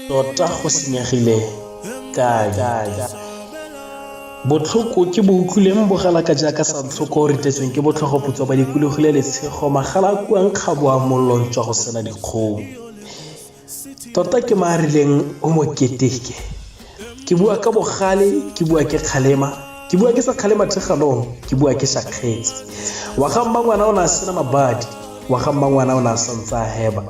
tota go senyegile kae botlhoko ke bo utlwileng bogala ka jaaka sa ntlhoko o ritetsweng ke botlhogoputswa ba dikologile letshego magala a kuang kgaboa mollo jwa go sena dikgong tota ke ma rileng o mo keteke ke bua ka bogale ke bua ke kgalema ke bua ke sa kgalema thegalong ke bua ke shakgetse wa ga mma ngwana o ne a sena mabadi wa ga mma ngwana o ne a santse a heba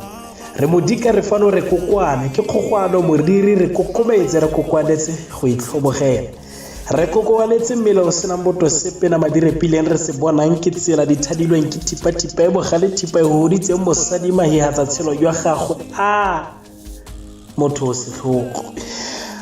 re modika re fano re kokwane ke kgogwano moriri re kokometse re kokoanetse go itlhobogela Re kokobaletse mmele o senang boto sepe na madirepileng re se bonang ke tsela di thadilweng ke thipa-thipa e bogale thipa e goditseng mosadi mahihatsa tshelo jwa gagwe a motho o setlhogo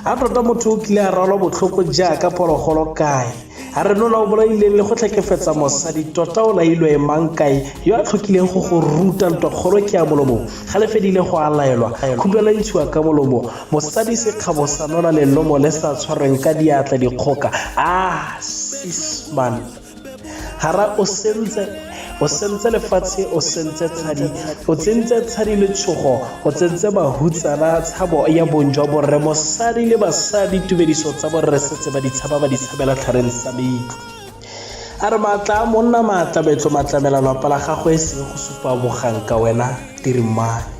a tota motho o kile a rwalwa botlhoko jaaka phologolo kae a re lola o bolaileng le go tlhekefetsa mosadi tota o lailwe e mang kae yo a tlhokileng go go ruta ntwakgolo ke ya molomo ga le fedile go a laelwa khupelo e ntshiwa ka molomo Mosadi sekgabo sa nona lelomo le sa tshwarweng ka diatla dikgoka ah sisman hara o sentse o sentse lefatshe o sentse tshadi o tsentse tshadi letshogo o tsentse bahutsana tshabo ya bong jwa borre mosadi le basadi tumediso tsa borre setse ba ditshaba ba ditshabela tlhareng sa meitlo a re maatla a monna maatla metlo matlamela lwapa la gagwe e seng go supa bogang ka wena tirimane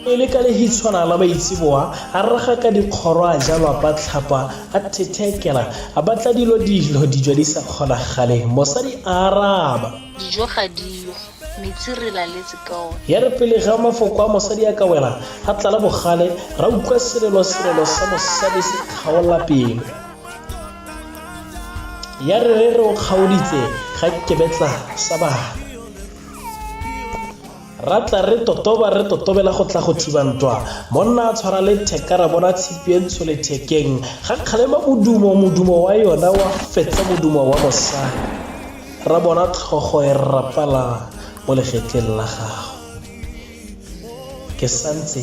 E le ka lehitshwana la maitseboa, a raga ka dikgoro a ja lwapatlhapa, a thethekela, a batla dilo dilo dijo di sa kgonagaleng. Mosadi a araba. Dijo ga diyo, metsi re laletse ka one. Ya re pele ga mafoko a mosadi a ka wela, a tlala bogale, ra utlwa selelosirelo sa mosadi se kgaola pelo. Ya re re re o kgaoditse ga kebetla sa bana. Ra tla re totoba re totobela go tla go thiba ntwa. Monna a tshwara letheka ra bona tshipi e ntsho lethekeng. Ga kgalema modumo, modumo wa yona wa fetsa modumo wa mosadi. Ra bona tlhogo e rapala mo legetleng la gagwe. Ke santse